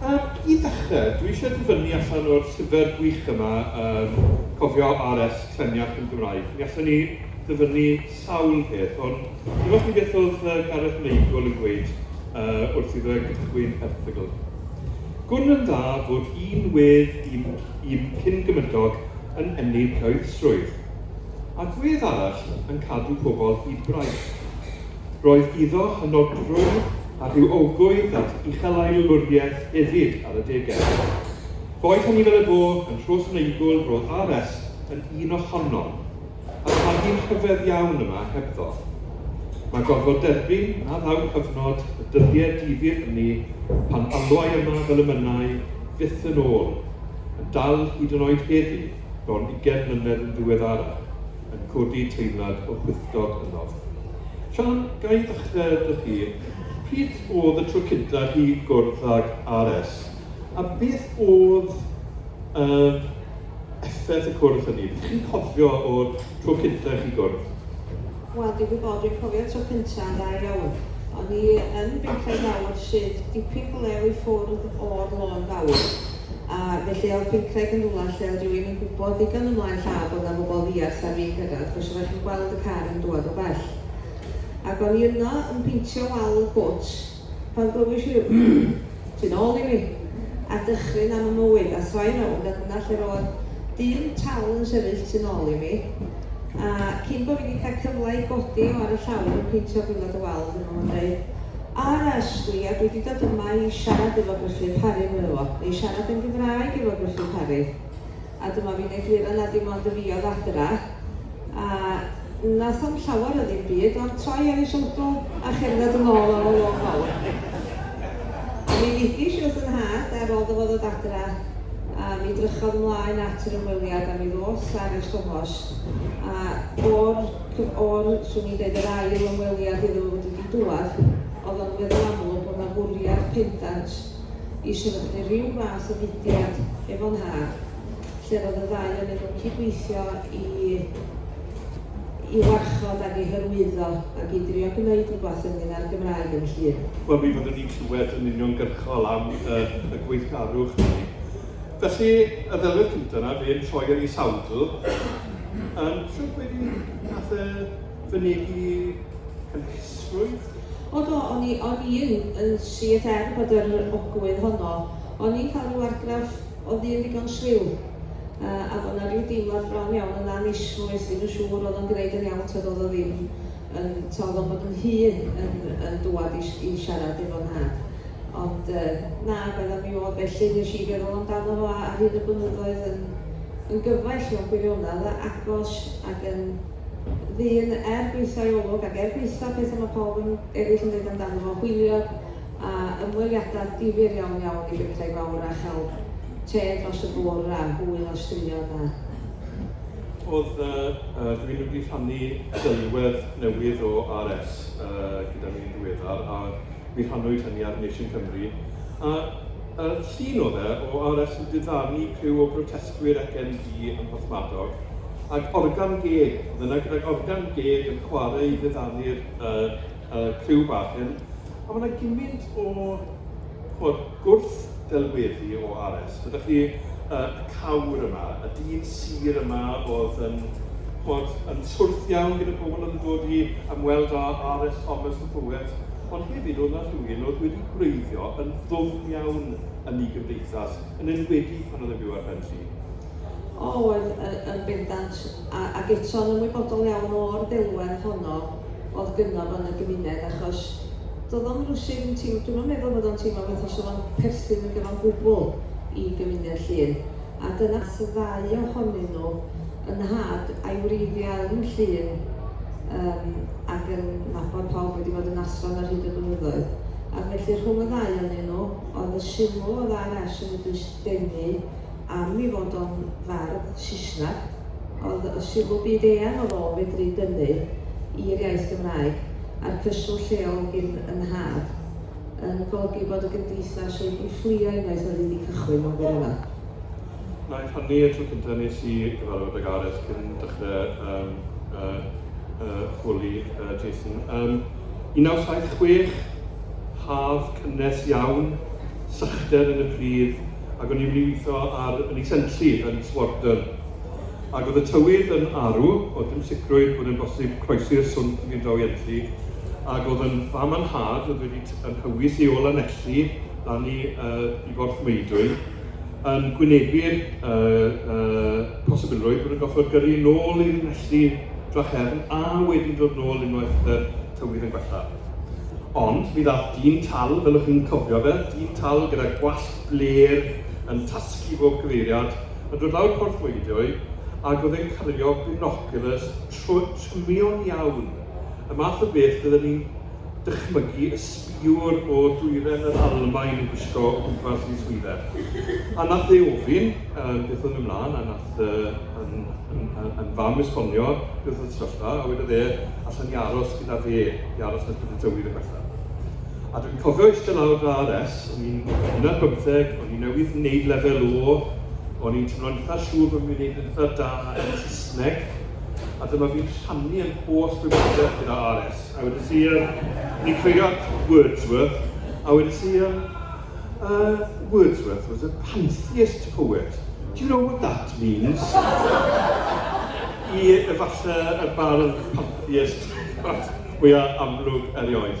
I ddechrau, dwi eisiau dyfynnu allan o'r llyfr gwych yma, yym, cofio RS, Cleniach yn Gymraeg. Mi allwn ni ddyfynnu sawl peth, ond dwi'm os ti beth oedd yy Gareth Meigl yn gweud yy wrth iddo fe gychwyn erthygl. Gwn yn dda fod un wedd un un cyn-gymydog yn ennyn cyhoeddusrwydd, ac wedd arall yn cadw pobl hyd braich. Roedd iddo hynod drwm a rhyw owgwydd at uchelaelwriaeth hefyd ar adegau. Boed hynny fel y bo, yn nhros Meigl roedd RS yn un ohonom. A pharti rhyfedd iawn yma hebddo. Mae gorfod derbyn a ddaw cyfnod y dyddie difyr hynny pan alwai yma fel y mynnai fyth yn ôl, yn dal hyd yn oed heddi, bron ugain mlynedd yn ddiweddarach, yn codi teimlad o chwithdod ynof. Siân, ga i ddechre 'da chi. Pryd o'dd y tro cynta i chi gwrdd ag RS? A beth oedd yr effaith y cwrdd hynny? Be dych chi'n cofio o'r tro cyntaf i chi gwrdd? Wel, dwi'n gwybod, dwi'n cofio'r tro cyntaf yn dda iawn. O'n i yn Benclad Fawr sydd dipyn go lew i ffwrdd o'r Lôn Fawr. A felly oedd Benclad yn rhywle lle oedd rhywun yn gwybod ddigon ymlaen llaw bod yna bobl ddiarth ar fin cyrraedd, achos oeddech chi'n gweld y car yn dŵad o bell. Ac o'n i yno yn peintio wal y cwt, Pan glywais i ryw tu nôl i mi, a dychryn am y mywyd, a throi rownd a dyna lle roedd dyn tal yn sefyll tu nôl i mi, a cyn bo fi di cael cyfle i godi o ar y llawr yn peintio gwilod y wal, dyma fo'n deud, RS, Gwilia, dwi di dod yma i siarad efo Gruffydd Parry, medda fo, neu siarad yn Gymraeg efo Gruffydd Parry. A dyma fi'n egluro na dim ond y fi oedd adra. A wnaeth o'm llawer o ddim byd, ond troi ar ei shoulder a cherdded yn ôl ar y lôn fawr. A mi ddigish i wrth fy nhad ar ôl 'do fo ddod adra, a mi drychodd ymlaen at yr ymweliad a mi ddoth ar y stomos. A o'r cyf-, o'r, swn i'n deud, yr ail ymweliad iddo fo fod wedi dŵad, oedd o'n weddol amlwg bod 'na fwriad pendant i sefydlu rhyw fath o fudiad efo nhad, lle roedd y ddau onyn nhw'n cydweithio i i warchod ac i hyrwyddo ac i drio gwneud rhywbeth ynglyn â'r Gymraeg yn Llŷn. Wel, mi fyddwn ni'n clywed yn uniongyrchol am y, y gweithgarwch hynny. Felly, y ddelwedd cyntaf yna, fe'n troi ar ei sawdl, um, siwr pwy di nath e fynegi cynhesrwydd? O do, o'n i, o'n i yn, yn siet er bod yr ogwydd honno. O'n i'n cael rhyw argraff o ddyn ddigon swil, yy, a bod 'na ryw deimlad bron iawn yn annismwys, ddim yn siŵr oedd o'n gneud yn iawn tybed oedd o ddim yn, t'o' oedd o'n bod yn hŷn yn yn dŵad i i siarad efo nhad. Ond yy na, roedd o mi oedd felly, nes i feddwl amdano fo ar hyd y blynyddoedd yn yn gyfaill mewn gwirionedd, agos ac yn ddyn er gwaetha'i olwg ac er gwaetha' petha' ma' pawb yn eryll yn deud amdano fo, hwyliog a ymweliada' difyr iawn iawn i bentrau fawr a chael te dros y bwr' a hwyl a straeon a. Oedd yy yy rhywun wedi rhannu delwedd newydd o RS yy gyda ni'n ddiweddar a mi rhannwyd hynny ar Nation Cymru, a a llun oedd e o RS yn diddanu criw o brotestwyr ac MD ym Mhorthmadog, ac organ geg, oedd yna gydag organ geg yn chwarae i ddiddanu'r yy yy criw bach hyn, a ma' 'na gymint o ch'mod, Gwrth-ddelweddu o Ares. Dyna chi y cawr yma, y dyn sur yma oedd yn bod yn twrth iawn gyda pobl oedd yn dod i ymweld â Ares Thomas the Poet, ond hefyd oedd 'na rhywun oedd wedi gwreiddio yn ddwfn iawn yn ei gymdeithas, yn enwedig pan oedd e'n byw ar ben tri. O, yn, yn, yn bendant, a, ac eto'n ymwybodol iawn o'r ddelwedd honno. oedd gynno fo yn y gymuned achos do'dd o'm rywsud yn teimlo, dwi'm yn meddwl fod o'n teimlo fatha sa fo'n perthyn iddo fo'n gwbl i gymuned Llŷn a dyna nath y ddau ohonyn nhw, yn nhad a'i wreiddiau yn Llŷn yym ac yn nabod pawb wedi bod yn athro'n ar hyd y blynyddoedd ac felly rhwng y ddau onyn nhw oedd y sylw oedd ARS yn eu denu am i fod o'n fardd Sisnag, ond y sylw byd eang oedd o fedru dynnu i'r iaith Gymraeg, a'r cyswllt lleol gin y nhad, yn golygu bod y gymdeithas wedi fflio unwaith oedd hi 'di cychwyn mewn gwirionedd. Wnaeth hynny y tro cyntaf nes i gyfarfod â Gareth cyn dechrau yym yy yy holi yy Jason. Yym 1976, haf cynnes iawn. sychder yn y pridd, ac o'n i'n mynd i weithio ar yn Isentli yn Swardon. Ac oedd y tywydd yn arw, oedd dim sicrwydd bod e'n bosib croesi'r swmp i fynd draw i Enlli, ac oedd yn fam a nhad oedd wedi t- yn hywys i ôl Lanelli lan i, uh, i Forth Meudwy, yn gwynebu'r uh, uh, posibilrwydd bod yn gorfod gyrru nôl i'r Enlli Drachefn a wedyn dod nôl unwaith uh, tywydd yn gwella. Ond mi ddaeth dyn tal, fel ych chi'n cofio fe, dyn tal gyda gwallt blêr yn tasgu bob cyfeiriad, yn dod lawr Porth Weidioe, ac oedd e'n cario binoculars trymion iawn, y math o beth fydden ni'n dychmygu y sbïwr o dwyren yr Almaen yn gwisgo o gwmpas mis Hwydder. A nath e ofyn beth oedd mynd mlan, a nath Yy yn yn yn yn fam esbonio beth oedd y sefyllfa a wedodd e allen i aros gyda fe i aros yn y peth tywydd yn bellach. A dwi'n cofio eistedd lawr gyda RS, o'n i'n hwnna'n bymtheg, o'n i'n newydd wneud lefel o, o'n i'n teimlo'n eitha siŵr bod fi'n gwneud yn eitha da yn Saesneg, a dyma fi'n rhannu yn holl gwybodaeth gyda RS. A wedi si, ni'n creio at Wordsworth, a wedi si, Uh, Wordsworth was a pantheist poet. Do you know what that means? I efallai y bardd pantheist fwya amlwg erioed.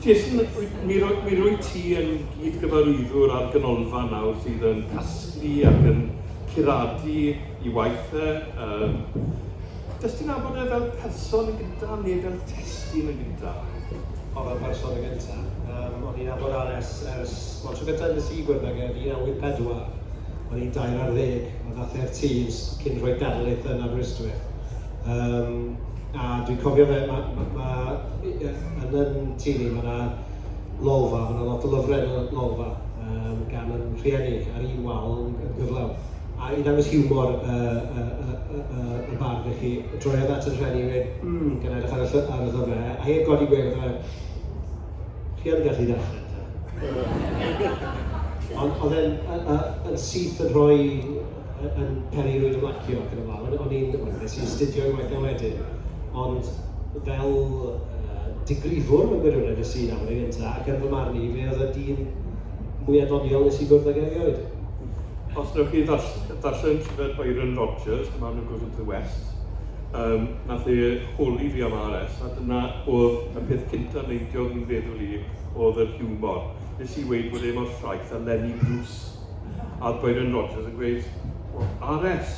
Jason, mi, ro, mi rwy ti yn gyd-gyfarwyddwr ar ganolfan nawr sydd yn casglu ac yn curadu i waith e, yym, jyst i nabod e fel person yn gynta, neu fel testun yn gynta. O, fel person yn gynta. Yym, o'n i'n nabod Aless ers, wel, tro gynta nes i gwrdd ag e, 1984. O'n i'n dair ar ddeg, a ddath e i'r Tees cyn rhoi darlith yn Aberystwyth. Yym, a dwi'n cofio fe, ma', ma', ma', yn yn tŷ ni, ma' 'na lolfa, ma' 'na lot o lyfrau yn y lolfa, yym, gan yn rhieni, ar un wal yn gyflawn. a i ddangos hiwmor y y y y y bardd i chi, droiodd at y rhieni a gweud, 'mm, gan edrych ar y lly- ar y llyfrau, a heb godi gwên fatha, 'chi yn gallu darllen ta? Ond oedd e'n y y yn syth yn rhoi y y yn peri rywun ymlacio ac yn y blaen, o'n i'n, wel wnes i astudio i waith 'na wedyn, ond fel yy digrifwr mewn gwirionedd es i i Lafur yn gynta, ac yn fy marn i, fe oedd y dyn mwya' doniol wnes i gwrdd ag erioed. Os newch chi ddarllen llyfr Byron Rogers, Man Who Goes Into The West, um, nath e holi fi am ARS, a dyna oedd y peth cyntaf neidiodd yn feddwl i oedd yr hiwmor. Nes i weid bod e mor llaeth a Lenny Bruce. A oedd Byron Rogers yn gweud, well, ARS,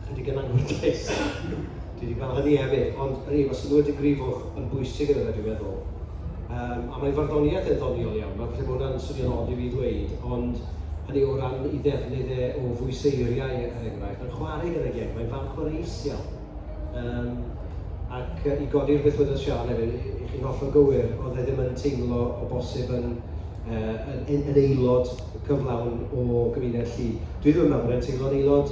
Chydig yn anffodus. Dwi wedi gweld hynny hefyd, ond hynny yw, os ydw wedi grifwch yn bwysig yn yna dwi'n meddwl. Um, a mae farddoniaeth yn ddoniol iawn, mae falle bod hwnna'n swnio'n od i fi ddweud, ond hynny o ran i ddefnydd e o fwyseiriau er enghraifft, mae'n chwarae gyda geg, mae'n fan chwaraeus iawn. Um, ac i godi'r beth wedodd Sian hefyd, i chi'n hollol gywir, oedd e ddim yn teimlo o bosib yn yn, yn aelod cyflawn o gymuned llu. Dwi ddim yn meddwl bod e'n teimlo'n aelod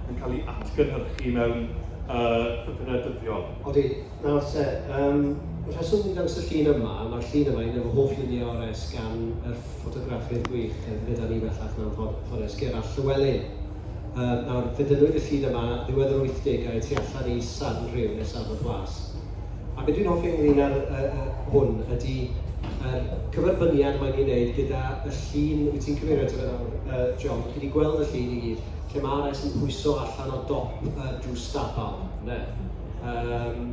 yn cael ei atgynhyrchu mewn cyfnod dyddiol. Odi, nawr te, yym, y rheswm dwi'n dangos y llun yma, mae'r llun yma, un o fy hoff luniau ores gan yr ffotograffydd gwych oedd gyda ni bellach mewn ffones, Gerallt Llywelyn. Yym, nawr, fe dynnwyd y llun yma ddiwedd yr wythdegau tu allan i Sarnrhyw nes Afon Glas. A be dwi'n hoffi ynglyn â'r yy yy hwn ydy yr cyferbyniad mae'n ei wneud gyda y llun wyt ti'n cyfeirio ato fe nawr yy John, chi 'di gweld y llun i gyd, Lle mae rais yn pwyso allan o dop y jws stabal, ynde? Yym,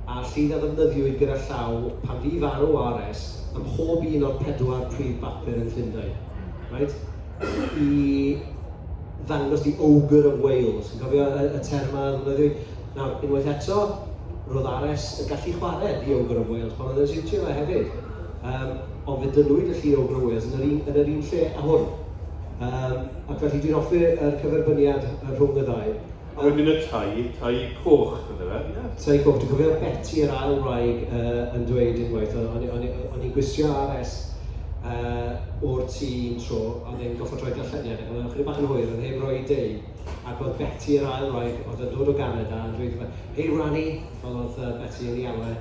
a'r llid a ddefnyddiwyd gyda llaw pan fu farw rs ym mhob un o'r pedwar prif bapur yn Llundain. Reit? I ddangos the ogre of Wales. Chi'n cofio y, y term a ddefnyddiwyd? Nawr, unwaith eto, roedd rs yn gallu chwarae the ogre of Wales pan oedd yn siwtio fe hefyd. Um, ond fe dynwyd y llid ogre of Wales yn yr un, yn yr un lle a hwn. Yym ac felly dwi'n hoffi yr cyferbyniad rhwng y ddau. A wedyn y tai, tai coch ynde fe? Ie. Tai coch, dwi'n cofio Beti yr ail wraig yy yn dweud unwaith, o'n o'n o'n o'n i'n gwisio RS yy o'r tŷ un tro, a oedd e'n gorfod rhoi darlleniad, ac oedd e'n ychydig bach yn hwyr, oedd e heb roi ei dei, ac oedd Beti yr ail wraig oedd yn dod o Ganada yn dweud wrtho fe, 'Hei Rani', fel oedd yy Beti yn ei alw e,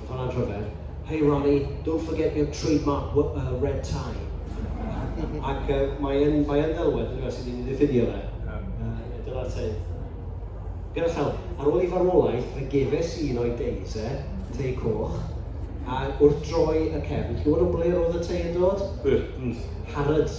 Hon ar gyfer, Hey Ronnie, don't forget your trademark w- uh, red tie. Ac yy mae yn mae yn ddelwedd yndyw e, sy'n mynd i ddiffudio fe. Yy a dyna'r tei. Gyda llaw. Ar ôl i farwolaeth, fe gefais un o'i deis e, tei coch, a wrth droi y cefn, chi'n gwybod o ble roedd y tei yn dod? Burton's. Harrods.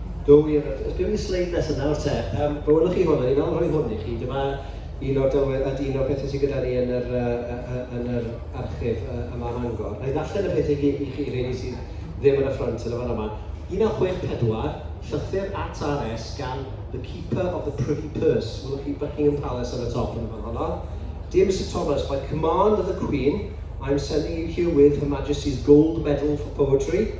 Do, wir. Oes gen i'r sleid nesa nawr te? Yym, fe welwch chi hwn, a ni'n awr rhoi hwn i chi. Dyma un o'r delwedd, a dyn o'r pethe sy gyda ni yn yr yy yy yy yn yr archif yy yma ym Mangor. Wna i ddarllen y pethe i gyd i chi, rheini sydd ddim yn y ffrynt yn y fan yma. 1964, llythyr at RS gan The Keeper of the Privy Purse, welwch chi Buckingham Palace ar y top yn y fan honno. Dear Mister Thomas, by command of the Queen, I am sending you herewith Her Majesty's Gold Medal for Poetry,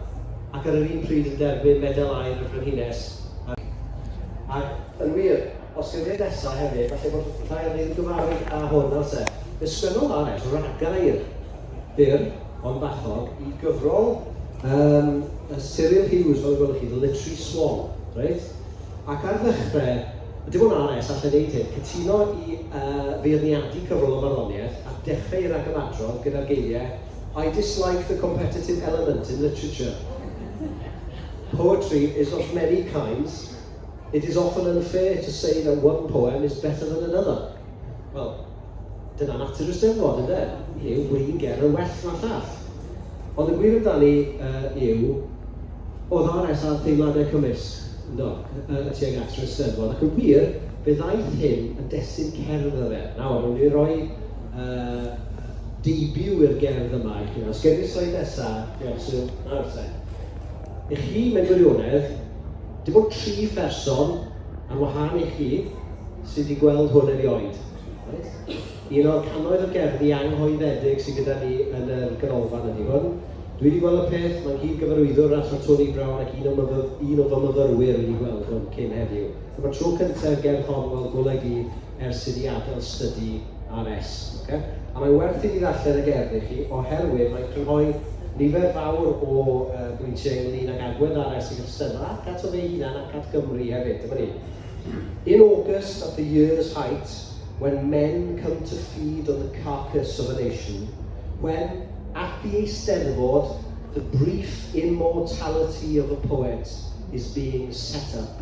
ac ar yr un pryd yn derbyn Medal Aur y Frenhines a'r Ac yn wir, os yw'r hyn nesaf hefyd, falle bod rhai ohonyn ni'n gyfarwydd â hwn, nawr te. Fe sgynnodd AS ragair byr ond bachog i gyfrol yym Cyril Hughes, fel y gwelwch chi, The Literary Swan, reit? Ac ar ddechrau, dim ond AS allai wneud hyn, cytuno i yy feirniadu cyfrol o farddoniaeth a dechrau ei ragymadrodd gyda'r geiriau, I dislike the competitive element in literature. Poetry is of many kinds, it is often unfair to say that one poem is better than another. Wel, dyna natur y Steddfod, ynde? Yw win ger yn well na llall. Ond y gwir amdani uh, yw, o ddares ar theimladau cymysg, yndo, y tuag at y Steddfod. Ac yn wir, fe ddaeth hyn yn destun cerdd y fe. Nawr, rwy'n ei roi uh, debut i'r gerdd yma i chi. Os gewn ni'r sleid nesa, diolch Sul. Nawr te. I chi, mewn gwirionedd, dim ond tri pherson, ar wahân i chi, sydd wedi gweld hwn erioed. Reit? Un o'r cannoedd o gerddi anghoeddedig sydd gyda ni yn y ganolfan ydy hwn. Dwi wedi gweld y peth, mae nghyd-gyfarwyddwr Rafa Tony Brown ac un o myfyr, un o fy myfyrwyr wedi gweld hwn cyn heddiw. Dyma'r tro cyntaf i'r gerdd hon weld golau dydd ers i fi adael stydi RS. Ocê? A mae'n werth i fi ddarllen y gerdd i chi oherwydd mae'n crynhoi nifer fawr o yy bwyntiau ynglŷn ag agwedd RS i'r Eisteddfod ac ato fe'i hunan ac at Gymru hefyd. Dyma ni. In August at the year's height when men come to feed on the carcass of a nation, when at the Eisteddfod the brief immortality of a poet is being set up.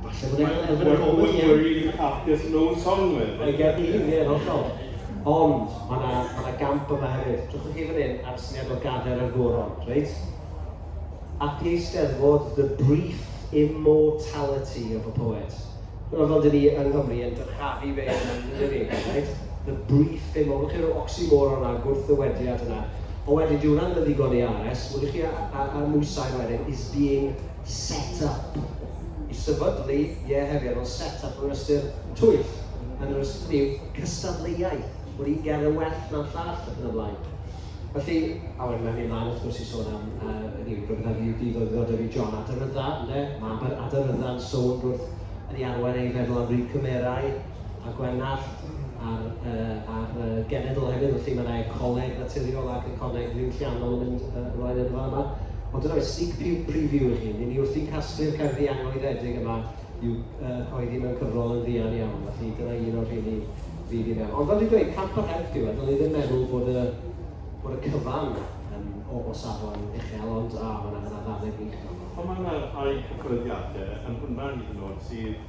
Falle bod e'n elfen o gofod i We're happiest no song with. Mae gen i hynny yn hollol. Ond, mae yna ma na gamp yma hefyd. Trwch chi fan hyn ar syniad o gader ar goron, reit? At the eisteddfod, the brief immortality of a poet. Dyna fel dyn ni yng Nghymru yn dyrchafu fe yn ymwneud ni, right? The brief immortality. Chi'n rhyw oxymoron na gwrthddywediad yna. Ond wedyn, dyw hwnna ddim yn ddigon i ARS. Wydych chi a, a, a mwysau wedyn is being set up i sefydlu, ie, hefyd, ond set up mewn ystyr twyll, yn yr ystyr yw cystadleuaeth, bod un gerdd yn well na'r llall ac yn y blaen. Felly, a wedyn mae'n mynd mlaen wrth gwrs i sôn am, uh, hynny yw, rhywbeth ar UD ddod ddod efo John Adarydda, ynde? Mae Adar Addarydda'n sownd wrth yn ei arwain ei feddwl am ryw cymerau, a Gwener a'r yy a'r yy genedl hefyd, felly mae 'na ecoleg naturiol ac ecoleg ddiwylliannol yn mynd yy ymlaen yn y fan yma. Ond dyna fe, sneak peek preview i chi. Ry'n ni wrthi'n casglu'r cerddi anrhyddedig yma i'w yy rhoi ddim yn cyfrol yn fuan iawn, felly dyna un o'r rheini fydd i mewn. Ond fel dwi'n dweud, camp yr help yw e, dylwn i ddim meddwl bod y, bod y cyfan yn o, o safon uchel, ond a, mae yna, mae yna ddannedd wych yna. Ond mae yna rhai cyfarwyddiadau yn hwnna hyd yn oed sydd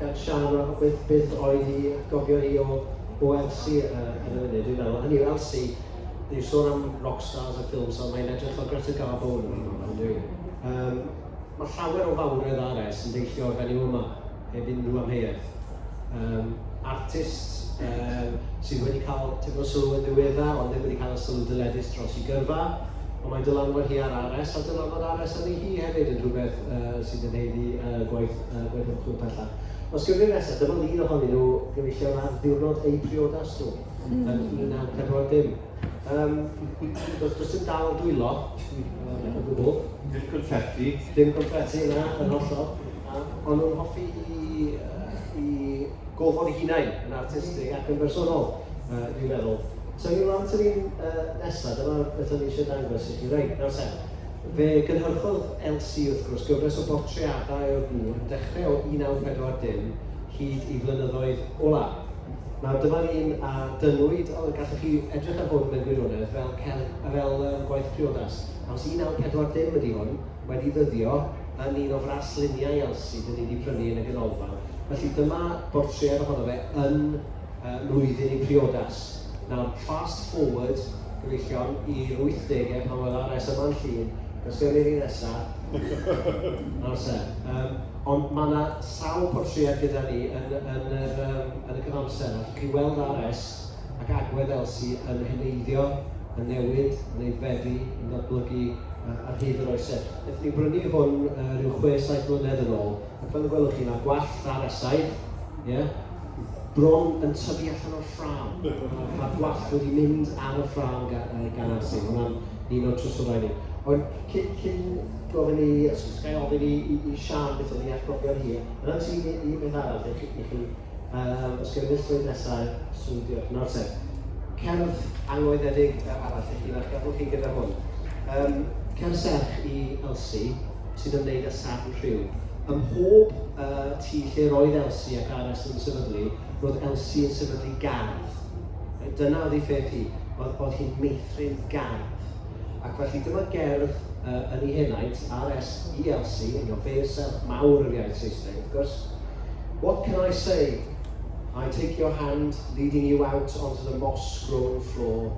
gan Siân a beth beth oedd i atgofion hi o o Elsie yy ar y funud dwi'n meddwl. Hynny yw Elsie, ni'n sôn am rock stars a ffilms ond mae'n edrych fel Greta Garbo yn fan hyn yndyw 'i? Yym mae llawer o fawredd ar e sy'n deillio o'r fenyw yma heb unrhyw amheuaeth. Yym artist yy sydd wedi cael tipyn o sylw yn ddiweddar ond ddim wedi cael y sylw dyledus dros ei gyrfa ond mae dylanwad hi ar Ares a dylanwad Ares arni hi hefyd yn rhywbeth yy sy'n ein haeddu yy gwaith yy gwaith ymchwil pellach. Os gewn ni'r nesaf, dyma lun ohonyn nhw gyfeillion ar ddiwrnod eu priodas nhw yn 1940. Um, does, does dim dal dwylo um, o gwbl. Dim confetti. Dim confetti yna, yn hollol. Um, ond nhw'n hoffi i, uh, i gofod i hunain yn artistig ac yn bersonol, uh, dwi'n meddwl. So ni'n rhan sy'n ni'n uh, nesaf, dyma beth o'n i eisiau dangos i chi. Reit, nawr sen. Fe gynhyrchodd Elsie, wrth gwrs, gyfres o bortreadau o'r gŵr yn dechrau o 1940 hyd i flynyddoedd olaf. Nawr, dyma'r un a dynnwyd, gallwch chi edrych ar hwn mewn gwirionedd fel celf, fel gwaith priodas, achos 1940 ydy hwn, wedi ddyddio yn un o frasluniau Elsie 'dyn ni 'di prynu yn y ganolfan. Felly, dyma bortread ohono fe yn lwyddyn i briodas. Nawr, fast forward, gyfeillion, i'r wythdegau pan wela res yma yn Llŷn, does gen i'r un nesa, nawr se. Yym, ond mae 'na sawl portread gyda ni yn yn yr yym yn y cyfamser 'na, allwch chi weld RS ac agwedd Elsie yn heneiddio, yn newid, yn aeddfedu, yn datblygu ar hyd yr oesoedd. Nethon ni brynu hwn ryw chwe, saith mlynedd yn ôl, A fel y gwelwch chi, mae'r gwallt ar y sail, ie, bron yn tyfu allan o'r ffrâm. Mae'r gwallt wedi mynd ar y ffrâm gan Arsi. Mae hwnna'n un o'r trysorau ni. Ond cyn, cyn gofyn i, os gael ofyn i, i, i Sian beth oedd ei atgofion hi, yna ti i, i beth arall i chi, i chi um, os gyda mislwyd nesau, swn diolch. Nawr te, cerdd angoeddedig arall i chi, felly gadwch chi gyda hwn. Um, cerdd serch i Elsie, sy'n ymwneud â Sadn Rhiw. Ym mhob yy tŷ lle roedd Elsi ac Ares yn sefydlu, roedd Elsi yn sefydlu gardd. Reit, dyna oedd ei pheth hi. Oedd, oedd hi'n meithrin gardd. Ac felly dyma gerdd uh, yn ei henaint, Ares i Elsi, you know, fe serch mawr yr iaith Saesneg, wrth gwrs. What can I say? I take your hand, leading you out onto the moss-grown floor,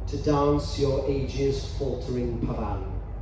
to dance your ages faltering pavan.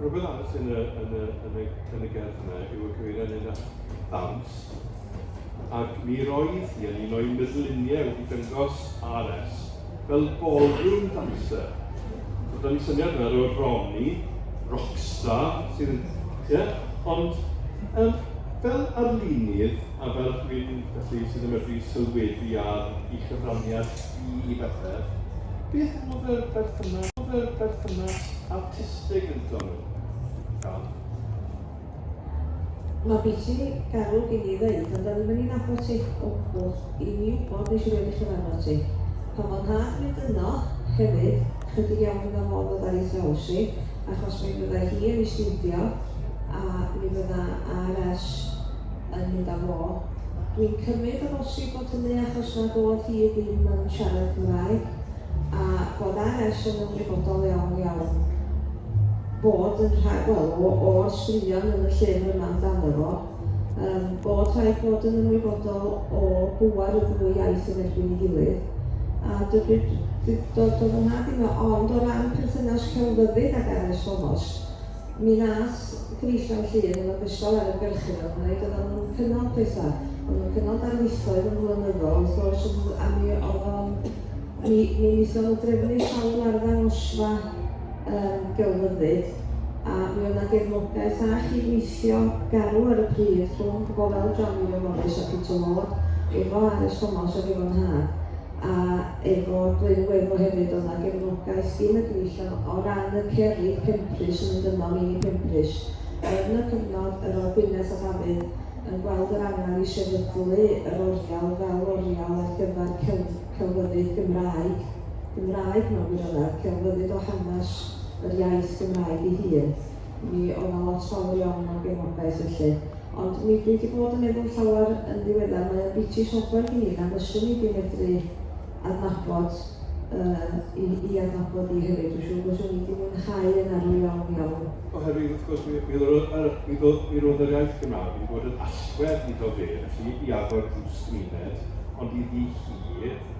Rhywbeth arall yn y, yn y, yn y, yn y gerdd yma yw y cyfeiriad yn at ddawns. Ac mi roedd hi yn un o'i meddluniau wedi dangos RS fel ballroom dancer. So, da ni syniad yna o Ronnie, rockstar, sydd yn... Ie? Ond, um, fel arlunydd, a fel dwi'n felly sydd yn medru sylwebu ar i chyfraniad i i bethau, beth oedd y berthynas, oedd y berthynas a artistig ynddo nhw. Iawn? Mae biti garw gen i ddeud, ond do'n i'm yn ei nabod ti o gwbl. I mi wybod, nes i rioed ei chyfarfod ti. Pan fo'n nhad mynd yno, hefyd, chydig iawn iddo fo fydda i thraws i, achos mi fydda hi yn ei stiwdio, a mi fydda RS yn mynd â fo. Dwi'n cymyd o bosib bod hynny achos nad oedd hi ddim yn siarad Cymraeg. a bod ar es yn ymwybodol iawn iawn bod yn rhaid, wel, o, o'r straeon yn y llyfr yma amdano fo, um, bod rhaid bod yn ymwybodol o bŵer y ddwy iaith yn erbyn ei gilydd, a dybyd dod o fy nhad i ond o ran perthynas celfyddyd ag Ares Thomas, Mi nath Gwneuthurn Llŷn yn ogystal â'r ymgyrchydd a gwneud oeddan nhw'n cynnal petha, oeddan nhw'n cynnal darlithoedd yn flynyddol wrth gwrs ond a mi oedd o'n mi mi wnaethon nhw drefnu sawl arddangosfa yym gelfyddyd a mi oedd 'na gefnogaeth a chydweithio garw ar y pryd rhwng pobl fel John William Morris a Peter Ward efo Ares Thomas ac efo Nhad a efo Glyn Gweddw hefyd oedd 'na gefnogaeth gin y gyfeillion o ran y cerrig Penprys yn mynd yno, mini Penprys. Yn y cyfnod yr oedd Gwyneth a Dafydd yn gweld yr angen i sefydlu yr oriel fel oriel ar gyfer celf, celfyddyd Gymraeg, Gymraeg mewn gwirionedd, celfyddyd o hanes yr iaith Gymraeg ei hun. Mi oedd 'na lot fawr iawn o gefnogaeth felly. Ond mi dwi 'di bod yn meddwl llawer yn ddiweddar, mae o'n biti sobor gen i na fyswn i 'di medru adnabod yy 'i 'i adnabod 'i hefyd. Dwi siŵr fyswn i 'di mwynhau yn arw iawn iawn. Oherwydd wrth gwrs mi mi ro'dd yr mi do- mi ro'dd yr iaith Gymraeg wedi bod yn allwedd iddo fe felly i agor drws gymuned ond iddi hi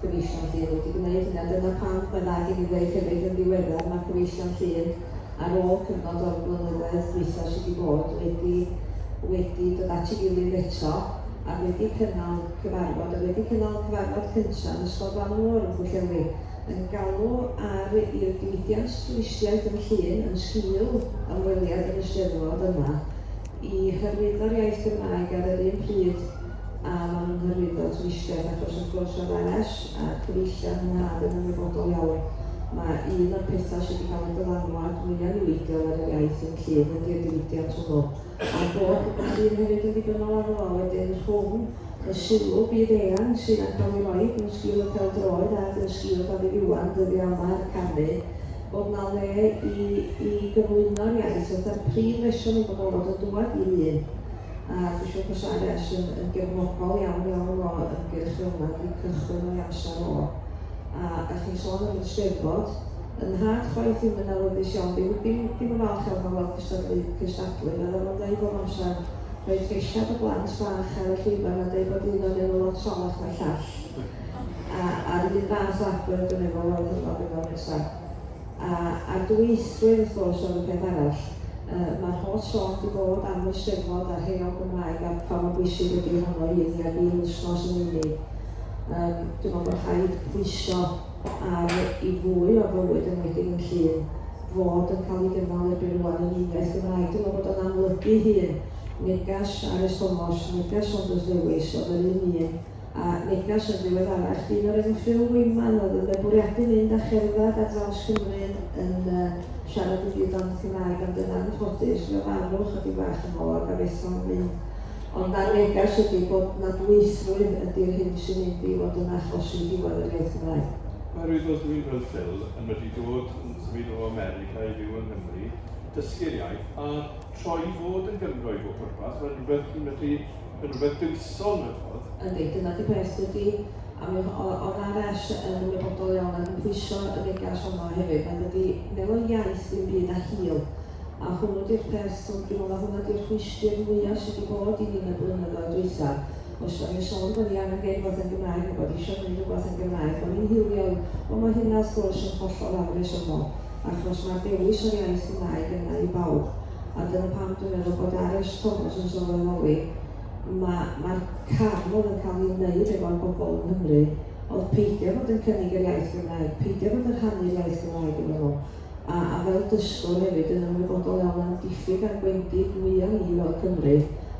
Cyfeillion Llŷr wedi gwneud hynny a dyna pam mae dda gen i ddeud hefyd yn ddiweddar mae Cyfeillion Llŷr ar ôl cyfnod o'r flynyddoedd dwytha sydd wedi bod wedi wedi dod at ei gilydd eto a wedi cynnal cyfarfod a wedi cynnal cyfarfod cyntaf yn Ysgol Glanw Môr yn Pwllheli yn galw ar i'r diwydiant twristiaeth yn Llŷn yn sgil ymweliad yn Eisteddfod yma i hyrwyddo'r iaith Gymraeg ar yr un pryd a maen nhw'n hyrwyddo twristiaeth achos wrth gwrs oedd Ares a cyfeillion y mab yn ymwybodol iawn mae un o'r pethau sydd wedi cael y dylanwad mwya niweidiol ar yr iaith yn Llŷn ydy'r diwydiant hwnnw a'r bod pobl Llŷn hefyd yn ddibynnol arno fo wedyn rhwng y sylw byd eang sydd yn cael ei roi mewn sgil y pêl-droed ac yn sgil Dafydd Iwan dyddiau yma yn canu bod na le i i gyflwyno'r iaith fatha'r prif reswm i bobl fod yn dŵad i Lŷn a dwi'n siŵr bod RS yn yn gefnogol iawn iawn o ymgyrch fel yma, wedi cychwyn o'i amser o. A, a chi'n sôn am yr Steddfod, yn nhad chwaith i'm yn awyddus iawn, ddim, ddim, ddim yn falch iawn o weld cystadlu, cystadlu, mae o'n dweud bob amser, rhoi lleisiad y blant bach ar y llwyfan a dweud bod un o'n un o lot salach na'r llall. A, a'r un fath o agwedd dwi'n efo weld hynod yn nesaf. A a'r dwyieithrwydd wrth gwrs oedd y peth arall. Yy mae'r holl sôn 'di bod am y Steddfod a'r Heol Gymraeg a pha mor bwysig ydy honno i ni ac i Lustnós yn unig. Yym dwi'n meddwl bod rhaid pwyso ar i fwy o fywyd enwedig yn Llŷn fod yn cael ei gynnal erbyn rŵan yn uniaith Gymraeg. Dwi'n meddwl bod o'n amlygu'i hun. Neges Arys Tomos, neges Saunders Lewis oedd yr un un A neges yn ddiweddarach, dyn o'r enw Phil Weyman oedd yn fy bwriadu mynd a cherdded ar draws Cymru yn yn yy siarad i gyd ond yn Cymraeg ond yn anffodus fe farw ychydig fach yn ôl ac a fetho'n fyw. Ond na neges ydi bod na dwythrwydd ydi'r hyn sy'n mynd i fod yn achosi diwedd yr iaith Gymraeg. Oherwydd os dwi'n fel Phil yn medru dod yn symud o America i fyw yng Nghymru, dysgu'r iaith a troi i fod yn Gymro i bob pwrpas, mae'n rhywbeth chi'n medru Yn rhywbeth gyson, a ch'mod. Yndi, dyna 'di peth dydi? A mi o- o- o'dd Ar Ess yn ymwybodol iawn ac yn pwyso y negas honno hefyd nad ydi meddwl iaith ddim byd a hil, a hwnnw 'di'r peth t'mod dwi me'wl ma' hwnna 'di'r rhwystr mwya sy' 'di bod i ni yn y blynyddoedd dwytha, os 'dan ni'n sôn bo' ni angen gneud rwbath yn Gymraeg ne' bod isio gneud rwbath yn Gymraeg bo' ni'n hiliol, wel ma' hynna wrth gwrs yn hollol afresymol achos ma'r dewis o'r iaith Gymraeg yna i bawb. a dyna pam dwi'n meddwl bod ar y Thomas yn sylweddoli, mae'r ma cam oedd yn cael ei wneud efo'r bobl yng Nghymru oedd peidio bod yn cynnig yr iaith Gymraeg, peidio bod yn rhannu'r iaith Gymraeg yn nhw. A, a fel dysgwr hefyd yn ymwybodol iawn am diffyg a'r gwendid mwya ni fel Cymru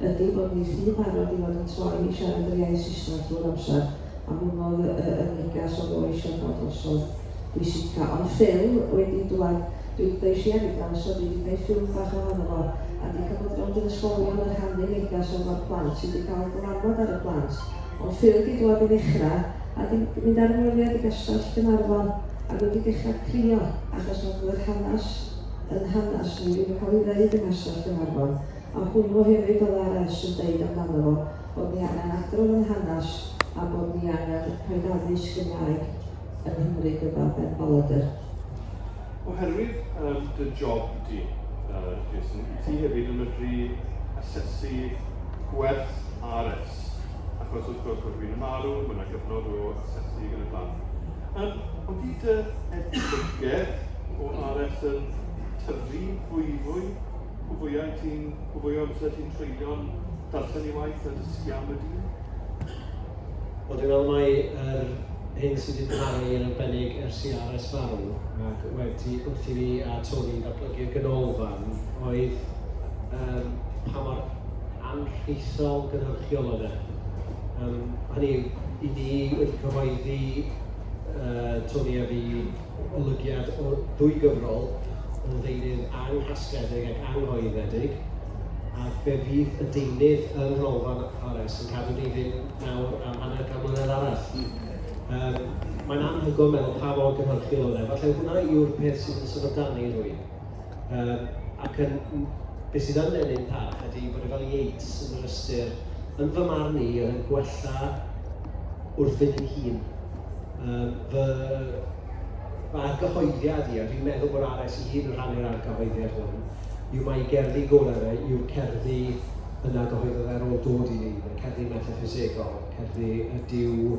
ydy bod ni rhy barod i fod yn troi i siarad yr iaith Saesneg drwy'r amser, a hwnnw oedd y, y, y negas oedd o eisiau cael drosodd bwysica. Ond Phil wedi dwad Dwi'n deisiedig gan y swyddi 'di gneud ffilm bach ohono fo a 'di cymryd rownd i'r ysgolion a rhannu negas o fod plant sy 'di cael dylanwad ar y plant ond ffil 'di dwad i ddechra a 'di mynd ar ymweliad i gastell Gaernarfon ac wedi dechra crio achos nad oedd yr hanas yn hanas ni ddim yn cael ei ddeud yng nghastell Gaernarfon a hwnnw hefyd oedd Ares yn deud amdano fo bod ni angen adrodd yn hanas a bod ni angen rhoid addysg Gymraeg yn Nghymru gyda Ben Bollinger. Oherwydd um, dy job di, uh, Jason, i ti hefyd yn medru asesu gwerth RS. Achos wrth gwrs bod rhywun yn marw, mae yna gyfnod o asesu yn y blaen. Um, ond fi dy edrych o RS yn tyfu fwy fwy, o fwyau ti'n, o fwy o amser ti'n treulio'n darllen i waith a dysgu am y dyn? Wel, dwi'n meddwl mai yr hyn sydd 'di parhau yn arbennig ers i Ares farw, ac waedd ti wrth i fi a Tony ddatblygu'r ganolfan, oedd yym pa mor anrhithol gynhyrchiol oedd e. Yym hynny yw, 'y ni wedi cyhoeddi, yy Tony a fi, golygiad o ddwy gyfrol o ddeunydd anghasgledig ac anghoeddedig, a fe fydd y deunydd yng Nghanolfan Fares yn cadw ni fynd nawr am hanner can mlynedd arall. Yym, mae'n anhygoel meddwl pa mor gynhyrchiol oedd e. Falle hwnna yw'r peth sydd yn sefydanu rhywun. Yym ac yn yn... be sydd yn ennyn parch ydy bod e fel Yeats yn yr ystyr, yn fy marn i, oedd yn gwella wrthyn ei hun. Yym fy fy argyhoeddiad i, a dwi'n meddwl bod Ares ei hun yn rhannu'r argyhoeddiad hwn, yw mai ei gerddi gorau fe yw'r cerddi yna gyhoeddodd e ar ôl dod i ni, y cerddi metaffisegol, cerddi y duw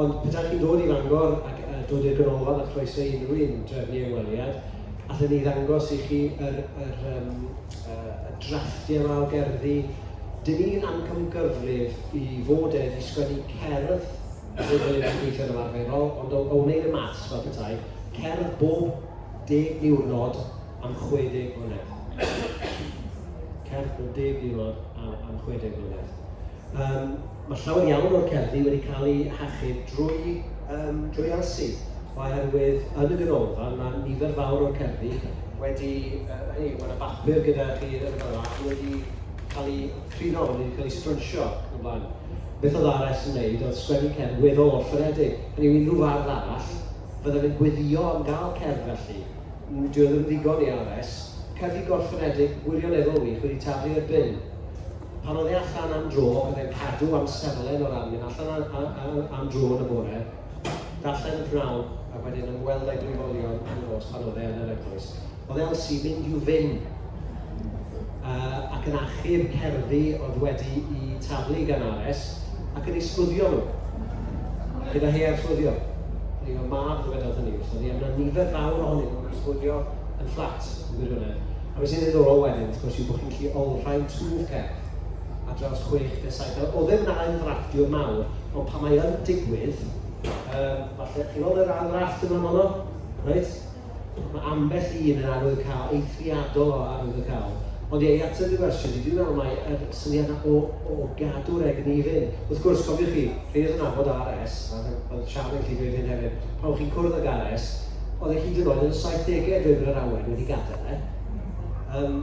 Ond petai chi'n dod i Fangor ac yy dod i'r Ganolfan a chroeso i unrhyw un drefnu ymweliad, allen ni ddangos i chi yr yr yym yy y drafftiau 'ma o gerddi. Dan ni'n amcangyfrif i fod e 'di sgwennu cerdd fel bod e 'di gweithio yn ymarferol, ond o o wneud y maths fel petai, cerdd bob deg diwrnod am 60 mlynedd. Cerdd bob deg diwrnod am am 60 mlynedd. Yym. Mae llawer iawn o'r cerddi wedi cael eu hachub drwy yym drwy elsi, oherwydd yn y ganolfan mae nifer fawr o'r cerddi wedi yy hynny yw, mae 'na bapur gyda chi yn fan 'na ac wedi cael eu prino, wedi cael eu sgrwnsio yn fan. Beth oedd ARS yn wneud oedd sgwennu cerdd weddol orffenedig, hynny yw unrhyw fardd arall fyddan yn gweddio am gael cerdd felly. N- dyw e ddim yn ddigon i ARS. Cerddi gorffenedig gwirioneddol wych wedi taflu i'r bin. Pan oedd e allan am dro, oedd e'n cadw amserlen o ran mynd allan a, a, a, am dro yn y bore, darllen y pnawn, a wedyn ymweld â'i blwyfolion yn y nos pan oedd e yn yr eglwys. Oedd Elsie mynd i'w fyn uh, ac yn achub cerddi oedd wedi i taflu gan Ares ac yn ei sgwddio nhw. Gyda hei ar sgwddio. Neu o'r mab ddywedodd hynny wrth oedd hi, yna nifer fawr ohonyn nhw'n sgwddio yn fflat yn gwirionedd. A beth sy'n ddiddorol wedyn, wrth gwrs, yw bod chi'n i olrhain twf cefn ar draws chwech neu saith. Nawr, oedd e ddim yn ail ddrafftio mawr, ond pan mae yn digwydd, um, falle, chi'n gweld yr ail drafft yma fanno? Reit? Mae ambell un yn arwydd cael, eithriadol o arwydd o cael. Ond ie, i ateb y gwestiwn, dwi'n meddwl mae yr syniad yna o, o gadw'r egni i fynd. Wrth gwrs, cofiwch chi, rhaid yn nabod RS, a oedd Sian yn gallu dweud hyn hefyd, pan o'ch chi'n cwrdd ag RS, oedd e hyd yn oed yn y 70au dweud bod yr awen wedi gadael e. Um,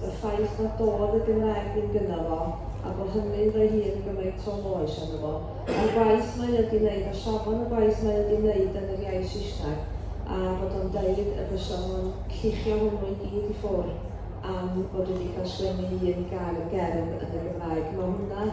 y ffaith nad dod y Gymraeg ddim gynno fo, a bo hynny'n rhoi hi yn gymaint o loes arno fo, a'r gwaith mae o 'di neud, a safon y gwaith mae o 'di neud yn yr iaith Saesneg, a bod o'n deud y bysa fo'n llichio hwnnw i gyd i ffwr, am fod wedi cael sgwennu un gair gerdd yn y Gymraeg. Mae hwnna